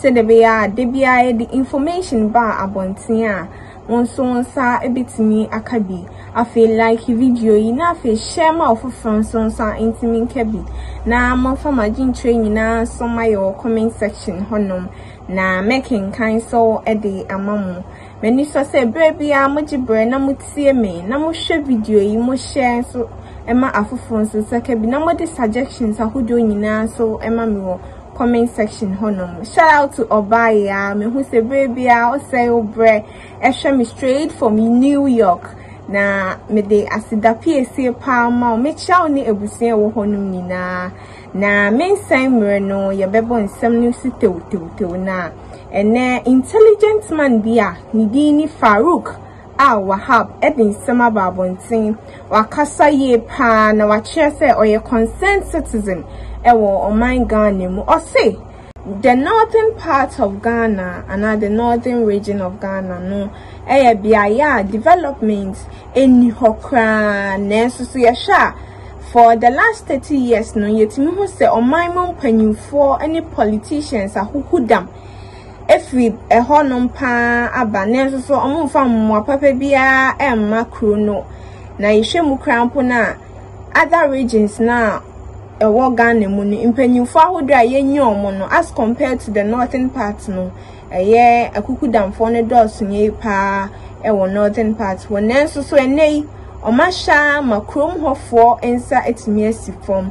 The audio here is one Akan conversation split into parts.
Sɛdeɛ ɛbɛyɛ a da biara yɛde information ba abɔnten a, wo nso wo nsa bɛtumi aka bi. Afei like video yi na afei share ma ɔfoforɔ nso nsa ntumi nka bi. Na momfa mo adwenkyerɛ nyinaa nso ma yɛ wɔ comment section hɔnom na mɛkenkan so de ama mo. M'ani sɔ sɛ berɛ biara mogye berɛ na motie me na mohwɛ video yi, mo share nso ma afoforɔ nso nsa ka bi na mode suggestions ahodoɔ nyinaa nso ma me wɔ comment section hɔ nom shout out to ɔbaayɛ a mehu sɛ berɛ biara ɔsɛe wo berɛ ɛhwɛ me straight from new york na mede aseda piesie paa ma wo mekyia wo ne abusua wɔ hɔ nom nyinaa na mensɛn mmerɛ no yɛbɛbɔ nsɛm no so tewtewtew no a ɛnɛ intelligent man bi a ne din ne farouk a Wahab de nsɛm aba abɔnten, wakasa yie paa na wakyerɛ sɛ ɔyɛ concerned citizen wɔ ɔman Ghana mu. Ɔse the northern part of Ghana anaa the northern region of Ghana no yɛ beaeɛ a development nni hɔ koraa nanso so yɛhwɛ a for the last 30 years no yɛtumi hu sɛ ɔman mu mpanyinfoɔ ne politicians ahuhudam afiri ɛhɔnom pa ara aba, nanso so wɔmfa mmoa papa biara mma kuro no. Na yɛhwɛ mu koraa mpo no a, other regions no a ɛwɔ Ghana mu no, mpanimfoɔ ahodoɔ a yɛnyi wɔn no, as compared to the northern part no, ɛyɛ akukudamfoɔ no dɔɔso yie pa ara wɔ northern part hɔ. Nanso so ɛnnɛ yi, wɔahyɛ ara ma kurom hɔfoɔ nsa atumi asi fam.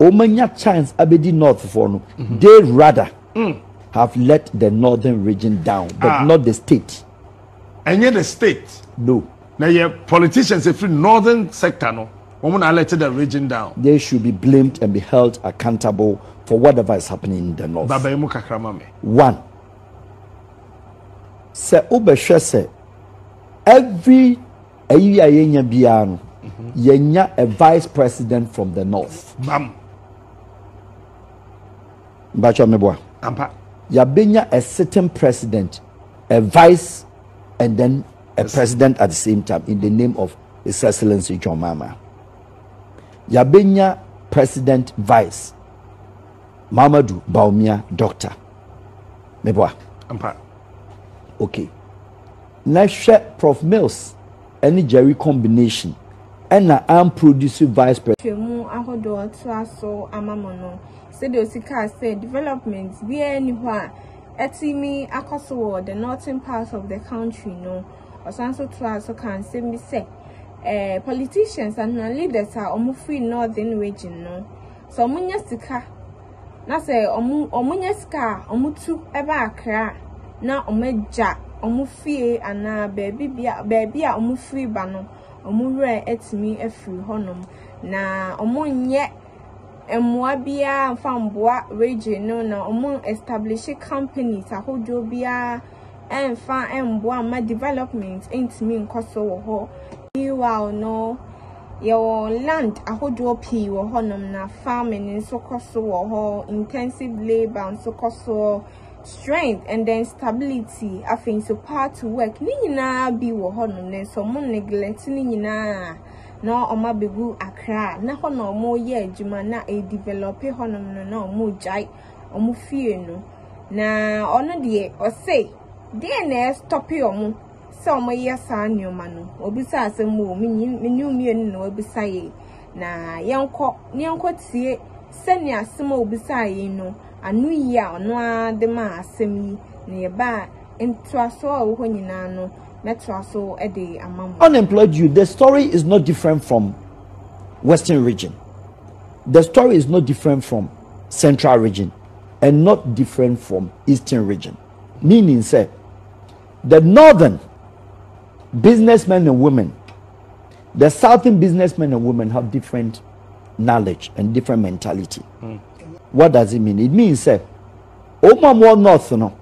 Wɔanya chance abɛdi North foɔ no, they rather have let the Northern region down but Ah. not the state. Ɛnyɛ the state. No. Na yɛ politicians ɛfiri Northern sector no, wɔn na let the region down. They should be blamed and be held accountable for whatever is happening in the North. Baba yi mu kakra ma me. One, sɛ wobɛhwɛ sɛ every Ayi a yɛnya biara no, yɛnya a vice president from the north. Bam. Mbakyɛ meboa. Ampa. Yɛabɛnya a sitting president, a vice, and then a president at the same time in the name of His Excellency John Mahama. Yɛabɛnya president vice, Mahamadou Bawumia, doctor. Meboa. Ampa. Okay. Na hwɛ prof Mills ne Jerry combination ɛna an produce vice president. nhwehwɛmu ahodoɔ atoa so ama mo no, sɛdeɛ ɔsi kaa sɛ development biara nni hɔ a atumi akɔ so wɔ the northern part of the country no, ɔsan nso toa so kaa nsɛm bi sɛ eh, politicians anaa leaders a wɔn firi northern region no, sɛ wɔn nya sika. na sɛ wɔn wɔn nya sika a wɔn tu ba akra na wɔn agya wɔn fie anaa baabi bia baabi a wɔn firi ba no wɔn werɛ atumi afiri hɔ nom na wɔn nyɛ mmoa biara nfa mmoa regye no na wɔn establish companies ahodoɔ biara. ɛmfa mboa mma development ntumi nkɔ so wɔ hɔ. Meanwhile no, yɛwɔ land ahodoɔ pii wɔ hɔnom na farming nso kɔ so wɔ hɔ, intensive labour nso kɔ soɔ, strength and then stability, afei nso power to work, ne nyinaa bi wɔ hɔnom nanso wɔn neglect ne nyinaa na wɔn abɛgu Accra na hɔ na wɔyɛ adwuma na ɛdevelop hɔnom no na wɔgyae. wɔn fie no. Na ɔno deɛ ɔse deɛ na ɛstɔpe wɔn sɛ wɔyɛ saa nneɛma no. Wɔbisa asɛm o, mene wo mmienu na wɔabisa yei. Na yɛnkɔ, na yɛnkɔ tie sɛnea asɛm a wɔbisa yei no, ano yi a ɔno ara de maa asɛm yi na yɛbaa ntoasoɔ a ɛwɔ hɔ nyinaa no mɛtoa so de ama mo. Unemployed youth, the story is not different from western region. The story is not different from Central region and not different from Eastern region, meaning sɛ the northern businessmen and women, the southern businessmen and women have different knowledge and different mentality. Mm. What does it mean? It means sɛ wɔn a wɔn north no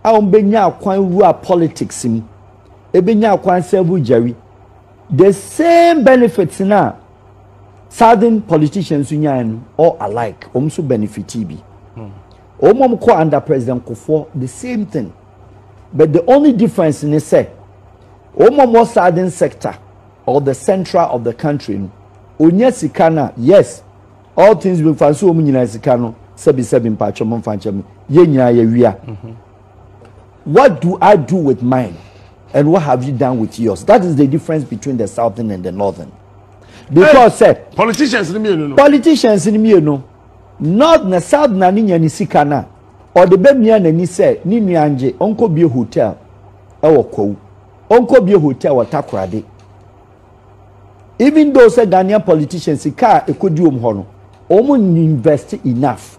a wɔbɛnya akwan wura politics mu ebɛnya akwan sɛbo gyari the same benefits na Southern politicians nso nyae no all alike, wɔn nso benefitee bi. Wɔn a wɔkɔ under President Kufuor, the same thing. But the only difference ne sɛ, wɔn a wɔwɔ Southern sector or the central of the country no, onya sika no a, yes, all things being fine, so wɔn nyinaa sika no sɛbisɛbi mpakyɛm mfa nkyɛm, yɛn nyinaa yɛwia. What do I do with mine and what have you done with yours? That is the difference between the southern and the northern. Because sɛ. Hey, politicians ni mienu no. Politicians ni mienu. North na south na ne nya ne sika na ɔde bɛmia n'ani sɛ ne nua ngye ɔnkɔ bie hotel ɛwɔ kwawu ɔnkɔ bie hotel wɔ takorade even though sɛ ghanaian politicians sika a ɛkɔdi wɔn hɔ no wɔn invest enough.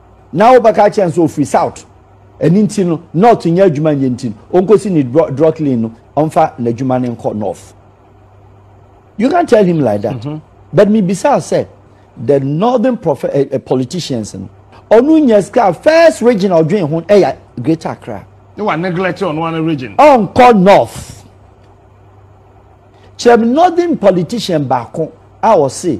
Na wobɛka akyerɛ no sɛ ɔfiri south ɛno nti no north nyɛ adwuma nyɛ nti no ɔnkɔsi ne drocklin no ɔmfa n'adwuma no nkɔ north you can tell him like that mm -hmm. but mebisa sɛ the northern prof uh, eh, eh, politicians no ɔno nyɛ sika first region ɔdwen ho ɛyɛ greater accra ne wa neglect ɔno ano region ɔnkɔ north kyerɛ me northern politician baako a ɔse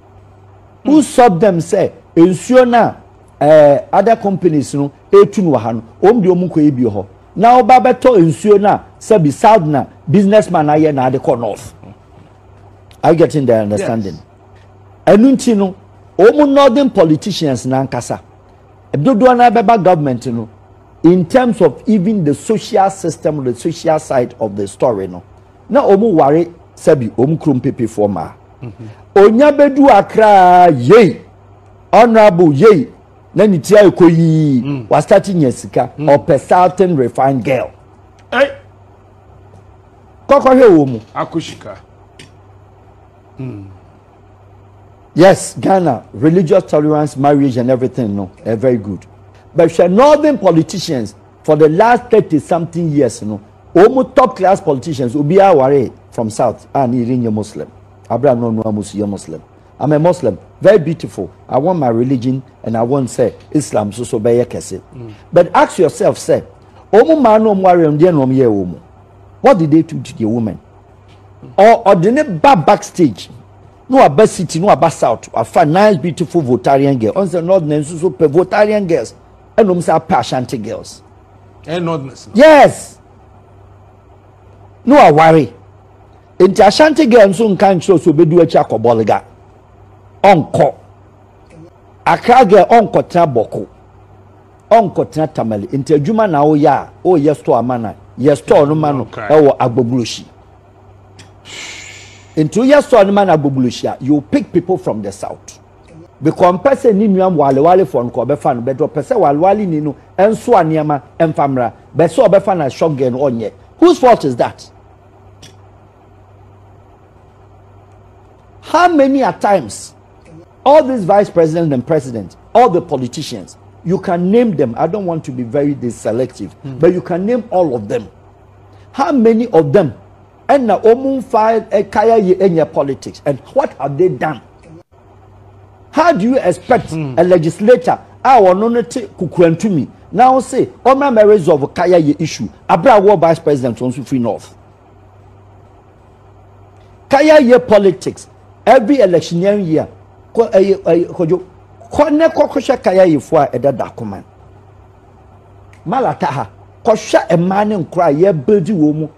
who stop them sɛ nsuo no a ɛɛ other companies no etu no wɔ ha no wɔn de wɔn kɔ ebi hɔ na ɔba bɛtɔ nsuo no a sɛbi south na businessman ayɛ na ade kɔ north are you getting the understanding ɛnu nti no wɔn northern politicians nankasa dodoɔ no abɛba government no in terms of even the social system or the social side of the story no na wɔn ware sɛbi wɔn kurom pepefoɔ maa. onya bɛdu akraa yei honorable yei na ne ti ayɛ kɔ yii mm. wasate nya sika mm. ɔpɛ certain refined girl kɔkɔhwɛ wɔ mu akosika mm. yes ghana religious tolerance marriage and everything no eh, very good but hwɛ northern politicians for the last thirty something years no Wɔn top class politicians obiara waree from south a ne yere nyɛ muslim abere a na ɔno ara mu so yɛ muslim I'm a muslim very beautiful I want my religion and I want sɛ islam nso so bɛyɛ kɛse mm. but ask yourself sɛ wɔn mmaa na wɔn waree no deɛ na wɔn yɛ wɔn mu what did they do to their women ɔde ne ba backstage no aba city no aba south afa nice beautiful votarian girl ɔn sɛ northern nso so pɛ votarian girls ɛna ɔmo san pɛ ashanti girls. ɛyɛ northerners no. yes no aware nti ashanti girl nso nka nkyerɛ so obedu akyi akɔ bɔliga ɔnkɔ akra girl ɔnkɔ tena bɔko ɔnkɔ tena tamale nti adwuma na ɔyɛ a ɔyɛ store ama na yɛ store no ma no ɛwɔ agboglosi nti ɔyɛ store no ma no agboglosi a you pick people from the south. Bikɔ ɔmpɛ sɛ ne nua walewarefoɔ no kɔ ɔbɛfa no bɛdɔ ɔpɛ sɛ walewareni no nsoa nneɛma mfa mmra bɛ sɛ ɔbɛfa no as shop girl no ɔnyɛ whose fault is that how many a times all these vice presidents and presidents all the politicians you can name them i don't want to be very selective mm. but you can name all of them how many of them Ɛna ɔmu nfa kaya yi ɛnyɛ politics and what have they done? How do you expect hmm. a legislator a ɔno no te kukurantumi na wo se ɔmra mɛ resolve kaya yi issue abira wɔ vice president wɔn nso free north. Kaya yi politics every electioneering year kɔ ɛyɛ ɛyɛ kɔdwo kɔ ne kɔkɔhwɛ kaya yi fo a ɛda da kɔman. Malata ha kɔhwɛ mmaa ne nkora a yɛbɛdi wɔn mu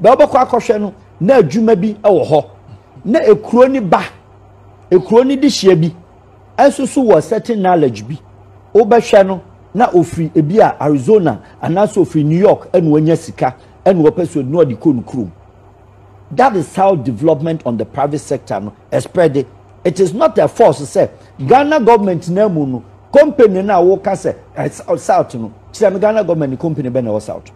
Baabi wɔbɛkɔ akɔhwɛ no, na adwuma bi wɔ hɔ. Na ekuro no ba, ekuro no dehyeɛ bi nso so wɔ certain knowledge bi. Wobɛhwɛ no, na ɔfiri ebi a Arizona anaasɛ ɔfiri New York ɛna ɔnya sika ɛna ɔpɛ so ɛna ɔde kɔ no kurom. That is how development on the private sector no spread. It is not a force sɛ Ghana government na mu no company na woka sɛ south no kyerɛ me Ghana government company bɛ na ɛwɔ south.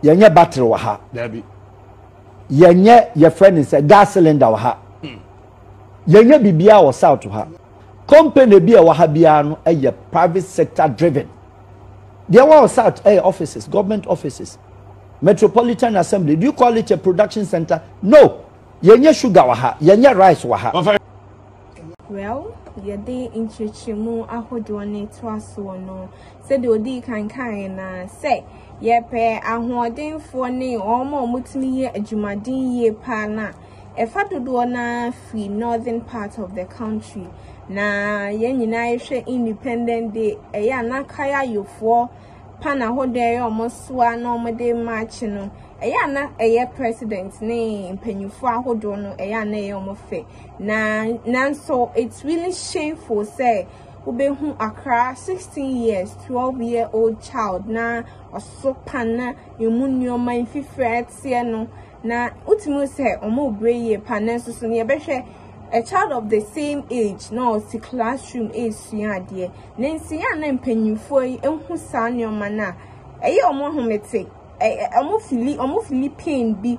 yɛnyɛ battery wɔ ha daabi yɛnyɛ yɛfrɛ ne sɛ gas cylinder wɔ ha hmm. yɛnyɛ biribiara wɔ south ha company bi a ɛwɔ ha biara no yɛ private sector driven deɛ ɛwɔ south ɛyɛ offices government offices metropolitan assembly do you call it a production center no yɛnyɛ sugar wɔ ha yɛnyɛ rice wɔ ha. Well, yɛde nkyerɛkyerɛmu ahodoɔ no toa soɔ no, sɛdeɛ ɔdii kan kaeɛ no ara sɛ, yɛpɛ ahoɔdenfoɔ ne wɔn a wɔtumi yɛ adwumaden yie paa no a, ɛfa dodoɔ no ara firi northern part of the country. Na yɛn nyinaa yɛhwɛ Independent Day, ɛyɛ a na Kaya Yofoɔ pan ahodoɔ a ɛyɛ wɔn soa na wɔde maakye no, ɛyɛ a na ɛyɛ president ne mpanimfoɔ ahodoɔ no, ɛyɛ a na ɛyɛ wɔn fɛ. Na nanso it's really shameful sɛ wobɛhu akra 16 years 12 year old child na ɔso pan na emu nneɛma mfifiri a ɛteɛ no na wotumi sɛ wɔn rebrɛ yie pa nanso so nea ɛbɛhwɛ a child of the same age na ɔsi classroom resua adeɛ. Ne nsiyɛ a na mpanyimfoɔ yi hu saa nneɛma no a ɛyɛ wɔn ahomete, wɔn fili, wɔn fili pain bi,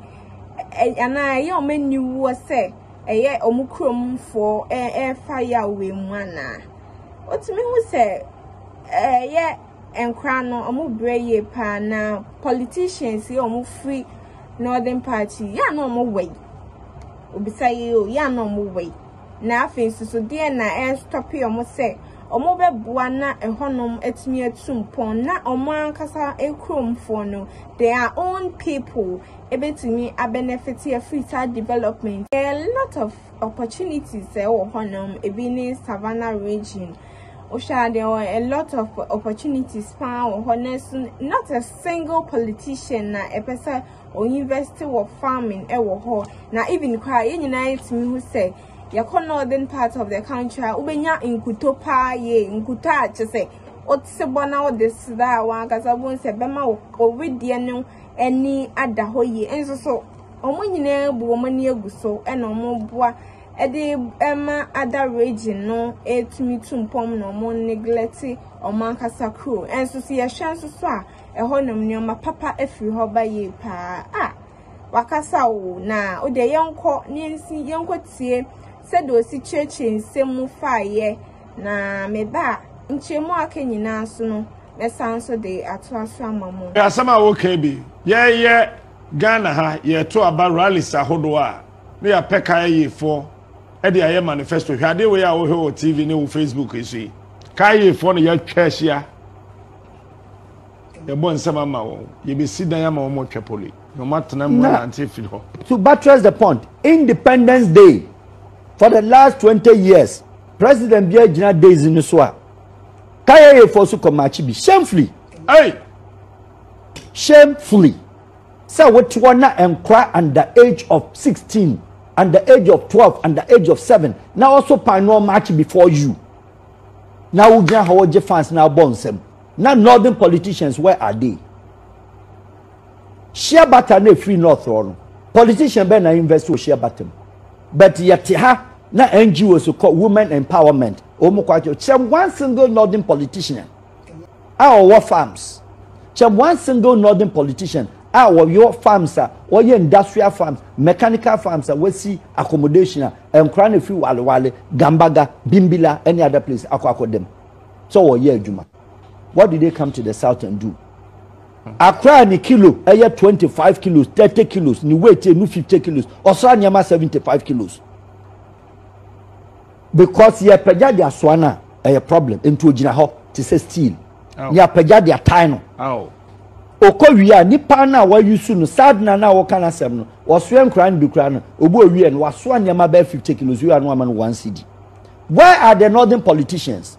anaa ɛyɛ wɔn aniwuo sɛ ɛyɛ wɔn kuromfoɔ ɛrefa Yahweh mu anaa. Wotumi hu sɛ ɛyɛ nkora no wɔn brɛ yie paa na politicians yi a wɔn firi northern party yɛ a na wɔn wɔ yi. Obisa yi o yɛ a na wɔn wɔ yi. Na afei nso so, deɛn na ɛrestɔpe wɔn sɛ wɔbɛboa na ɛhɔnom atumi atu mpɔn na wɔn ankasa kuromfoɔ no, their own people, ɛbɛtumi abɛnɛfete afiri saa development? There are a lot of opportunities a ɛwɔ hɔnom, ebi ne Savannah region, wohwɛ a there were a lot of opportunities paa wɔ hɔ, nanso not a single politician na ɛpɛ sɛ Ɔinvɛste wɔ farming wɔ hɔ na even koraa yɛn nyinaa yɛtumi hu sɛ yɛkɔ northern part of the country a wobɛnya nkuto paa yie nkuto a kyɛ sɛ wote bɔ na wode seda a wɔn ankasa wobɛhu sɛ bɛma wo owedeɛ no ani ada hɔ yie nso so wɔn nyinaa bu wɔn ani agu so ɛna wɔn boa ɛde ɛma ada region no ɛtumi tu mpɔm na wɔn neglect wɔn ankasa kuro nso so yɛhwɛ nso so a ɛhɔnom nneɛma papa firi hɔ ba yie paa a wakasa o na o deɛ yɛnkɔ ne yɛnsi yɛnkɔ tie sɛdeɛ osi kyerɛkyerɛ nsɛm mu faeɛ na meba a nkyerɛmu a aka nyinaa so no mɛsan nso de atoa so ama mo. asɛm a woka bi yɛyɛ ghana ha yɛto aba rallies ahodoɔ a na yɛapɛ kayefoɔ de ayɛ manifesto hwɛ adeɛ wei a wohwɛ wɔ tv ne wo facebook yi so yi kayefoɔ na yɛatwa ahyia Yɛbɔ nsɛm ama wɔn. Yɛbɛsi dan ama wɔn ɔtwa pole. Na wɔn atena mu anante afiri hɔ. To buttress the point, Independence Day, for the last twenty years, president biara gyina Daisy no so a, Kayeye foɔ so kɔ makye bi. Shamefully. Hey! Shamefully. Sɛ wote hɔ na nkora under age of sixteen, under age of twelve, under age of seven, na ɔso pan no ɔmakye before you. na wo gyina hɔ gye fans na abɔ nsɛm na northern politicians where are they share butter na free north hɔ no politician bɛn na invest wɔ share butter mu but yɛte ha na ngos kɔ women empowerment wɔn kɔ akyɛ kyerɛ one single northern politician. a ɔwɔ farms kyɛ one single northern politician a ɔyɔ farms a ɔyɛ industrial farms mechanical farms a wasi accommodation a nkora na efi walewale gambaga bimbila any other place akɔ akɔda mu sɛ ɔyɛ adwuma what did they come to the south and do akora ne kilo ɛyɛ twenty five kilos thirty kilos ne weight ɛnu fifty kilos ɔsra nneɛma seventy five kilos. Because yɛ pagya de asoa no a ɛyɛ problem nti ogyina hɔ te sɛ steel ne apagya de atae no. Okɔ wie a nipa no a wayusu no sadena no a wɔka no asɛm no wɔsoɛ nkora no bi kora no obi owie no wasoa nneɛma bɛyɛ 50 kilos wia no ama no one cd. Where are the northern politicians?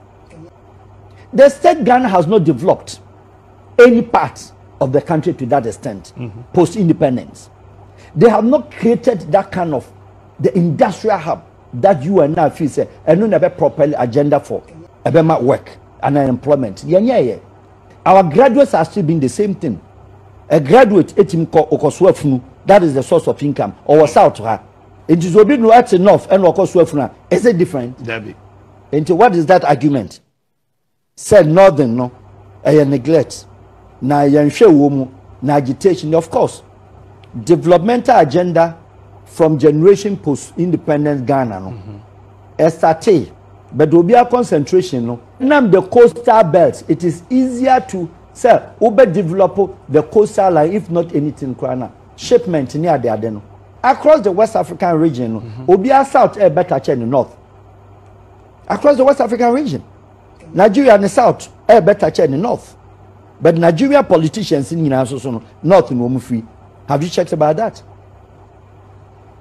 The state Ghana has not developed any part of the country to that extent mm -hmm. post independence. They have not created that kind of the industrial hub That you and na feel sɛ ɛno na ɛbɛ properly agenda for ɛbɛma work and employment yɛn yɛ yɛ our graduates are still being the same thing a graduate etim kɔ okɔ so afunu that is the source of income ɔwɔ south ha nti sɛ obi no ɛte north ɛna ɔkɔ so afunu a is it different dabi nti what is that argument. Sɛ Northern no, ɛyɛ neglect, na ɛyɛ nhwɛ wɔ mu, na agitation, of course, developmental agenda from generation post independence Ghana no, mm-hmm. ɛsatee, but obiara concentration no. Nam the coastal belt, it is easier to sɛ wobɛ develop the coastal line if not anything koraa na shipment ne ade ade no across the west african region no mm-hmm. obiara south ɛyɛ better kyɛ ne north across the west african region Nigeria ne south ɛyɛ better kyɛ ne north but Nigeria politicians ne nyinaa nso so no north na wɔn firi have you checked about that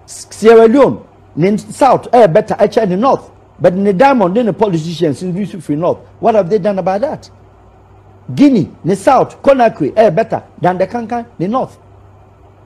Sierra Leone ne south ɛyɛ better ɛkyɛ ne north but ne diamond ne ne politicians ne nso firi north what have they done about that Guinea ne south Conakry ɛyɛ better than the kankan ne north.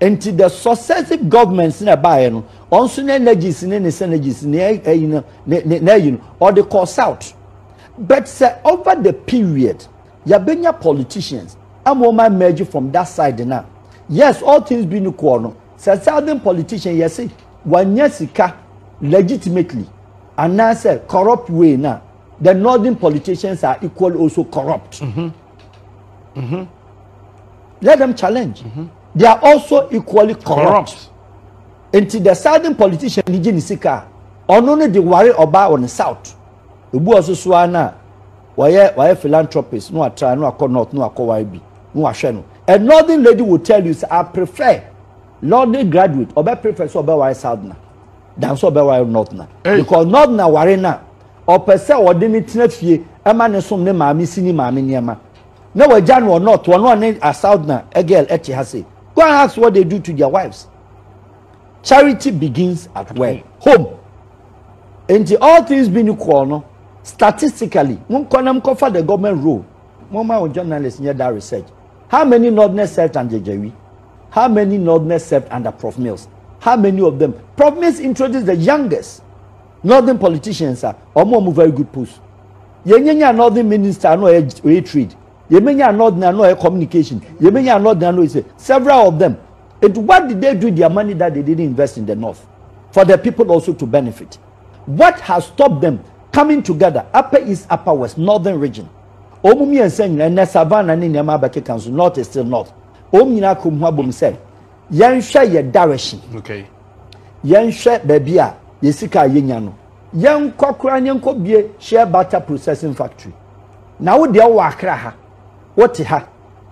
Nti the successive governments na ɛbaeɛ no wɔn nso ne energies ne ne synergies ne ɛyi no ne ne na ɛyi no ɔde kɔ south but sɛ over the period yɛbɛnya politicians ama wɔn emerge from that side na yes all things being equal no sɛ southern politician yɛse wanya sika legitimately anaasɛ corrupt way na the northern politicians are equally also corrupt. Mm -hmm. Mm-hmm. Let them challenge. Mm-hmm. They are also equally corrupt. corrupt. Nti the southern politician ni gye ne sika ɔno ne de ware ɔbaa wɔ ne south. Ebu ɔso so ara na wɔyɛ wɔyɛ philanthropist no atra no akɔ north no akɔ ware bi no ahwɛ no. A northern lady will tell you say I prefer northern graduate ɔbɛ prefer sɛ ɔbɛ ware south na dan sɛ ɔbɛ ware north na. Because north na ware na. Ɔpɛ sɛ ɔde no tena fie ma no som ne maame si ne maame nneɛma. Na wagya no ɔnɔt ɔno ɔne asaudna girl ɛte ha sei. Go and ask what they do to their wives. Charity begins at where? Home. Enti all things being equal no, statistically, monkɔ na mkɔfa the government role. Momma wo journalist nyɛ that research. How many Northerners served under Jawi? How many Northerners served under Prof Mills? How many of them? Prof Mills introduced the youngest Northern politicians a ɔmo ɔmo very good post. Yɛnyɛ nya northern minister ano ɔyɛ ɔyɛ trade. Yɛmɛ nya northern ano ɔyɛ communication. Yɛmɛ nya northern ano ɔyɛ several of them. It what did they do their money that they didn't invest in the north for the people also to benefit? What has stopped them coming together upper east upper west northern region? Ɔmo mmiɛnsa nyinaa ɛnɛ savannah ne nneɛma abɛkeka nso north is still north. Ɔmo nyinaa kɔm ho abom sɛ yɛnhwɛ yɛ direction. Okay. yɛnhwɛ baabi a yɛ sika a yɛnya no yɛnkɔ koraa ne yɛnkɔ bie shea butter processing factory na wo deɛ wɔ akra ha wote ha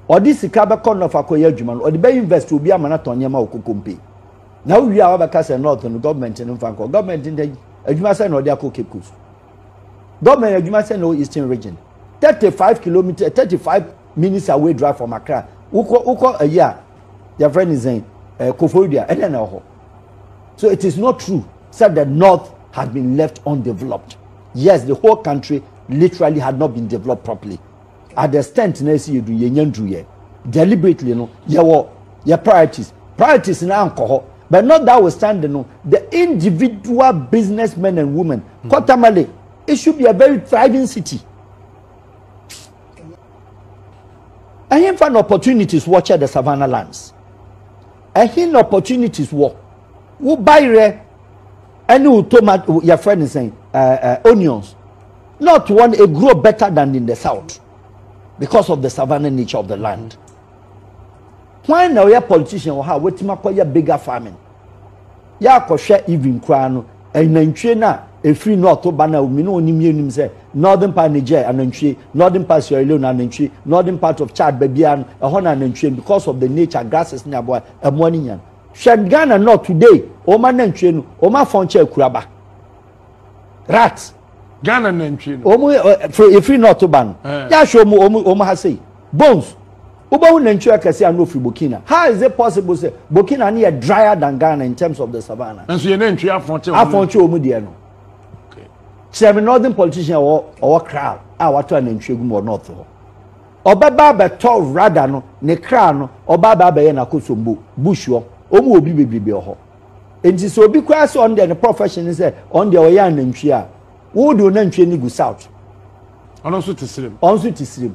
ɔde sika bɛkɔ nɔf akɔyɛ adwuma no ɔde bɛ invest obi ama no atɔn nneɛma wɔ kokompe na wowie a wabɛka sɛ north no gɔọmenti no mfa nkɔ gɔọmenti no adwuma sɛ na ɔde akɔ cape coast gɔọmenti adwuma sɛ na ɔ eastern region 35 kilometer 35 Minister away drive from Accra. Wokɔ wokɔ ayi a yɛfrɛ ne sɛn ɛɛ eh, Koforidua ɛna na ɛhɔ. So it is not true said the north has been left undeveloped. Yes, the whole country literally had not been developed properly. At the extent na esi edu yɛ nya nduru yɛ deliberately no yɛ wɔ yɛ priorities priorities na ankɔ hɔ but not that we stand no the individual businessmen and women mm -hmm. Kotamale it should be a very thriving city. Ɛhenfa na opportunities wɔ kyɛ the Savannah lands? Ɛhe na opportunities wɔ? Wo bayerɛ ɛne wo tomato yɛfrɛ ne sɛn ɛɛ ɛɛ onions not one a grow better than in the south because of the Savannah nature of the land. Hwan na ɔyɛ politician wɔ ha a watumi akɔyɛ bigger farming? Yɛ akɔhwɛ even koraa no, anantwie no a ɛfiri north ba no a me ne ɔnim yɛ nim sɛ northern part Niger anantwie, northern part Sierra Leone anantwie, northern part of Chad baabiara no ɛhɔ na anantwie because of the nature grasses ne aboa ɛmoa no nya no. Hwɛ Ghana north today wɔn anantwie no wɔn afɔn kyɛ akuraba rat. Ghana nantwie no. Wɔn ɛfiri north ba no yɛ ahwɛ wɔn wɔn ha sei. Bones, wobɛhu nantwi akɛseɛ a na ɔfiri Burkina. How is it possible sɛ Burkina no yɛ drier than Ghana in terms of the savannah? Nanso yɛn nantwi afɔn kyɛ wɔn. Afɔn kyɛ wɔn deɛ no. Kyerɛ me northern politician a ɔwɔ kra a watɔ anantwi agu mu wɔ north hɔ. Ɔbɛba abɛtɔ rada no ne kra no ɔba aba abɛyɛ n'akosombo bush hɔ. Wɔn wɔ obi bebrebe wɔ hɔ. Nti sɛ obi koraa sɛ ɔno deɛ ne profession ne sɛ ɔno deɛ ɔyɛ anantwi a, wo de onantwi ani gu south. Ɔno nso te srem. Ɔno nso te srem.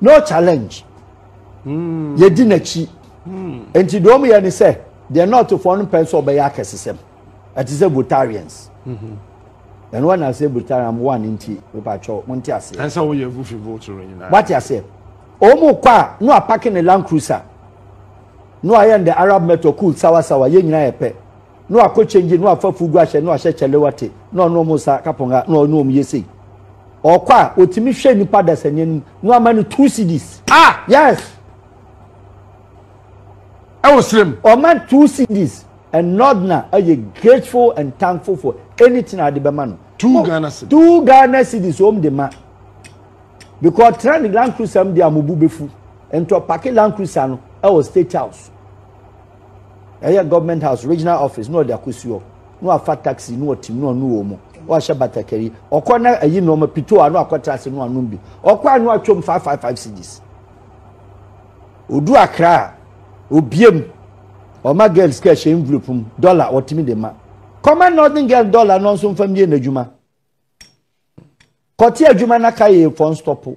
no challenge hmm. yɛdi n'akyi hmm. nti deɛ ɔmo yɛ ne sɛ deɛ nɔɔtofoɔ no mpɛ sɛ ɔbɛyɛ akɛsesɛm ɛte sɛ votarians hmm. ɛno wɔn na sɛ votarian mo wa ne nti pepa atwɛw mo nte aseɛ ɛnsɛ woyɛ gufi vote no nyinaa wate aseɛ ɔmo kɔ a no apake ne land cruiser no ayɛ ne arab metro cool sawasawa yɛ nyinaa yɛ pɛ. na wakɔ kyɛngye na wafa fugu ahyɛ na wahyɛ kyɛlewate na ɔne wɔn sa kaponga na ɔne wɔn yɛ sei ɔkɔ a ɔtumi hwɛ nipa dasani anim na wama no two cds ah yes ɛwɔ serem ɔma two cds and not na ɛyɛ grateful and thankful for anything a ade bɛma no two oh, ghana cds two ghana cds wɔn de ma because tena ne land cruiser mu de amobu befu ntɔ paki land cruiser no ɛwɔ state house. Ɛyɛ government house regional office na ɔde akosuo na wafa taxi na ɔtim na ɔnu wɔ mu ɔhyɛ batakari ɔkɔ na ayi nneɛma pito a na akɔtra ase na anom bi ɔkɔ a na atwam five five five cds odu akra a obiem ɔma girl sika hyɛ envelope mu dollar ɔtumi de ma kɔma northern girl dollar no nso mfa mmie n'adwuma kɔte adwuma na ka yɛ fɔn stɔpo